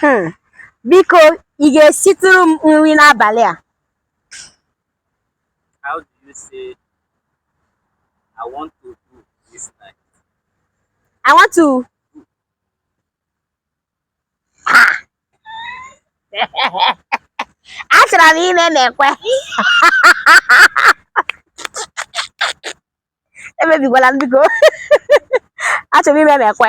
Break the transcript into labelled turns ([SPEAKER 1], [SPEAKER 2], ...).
[SPEAKER 1] Hmm. Biko, ị ga-esitụrụ m nri n'abalị a? How do you say I want to do this night? I want to achọrọ m ime mekwe emebikwala m biko achọrọ m ime mekwe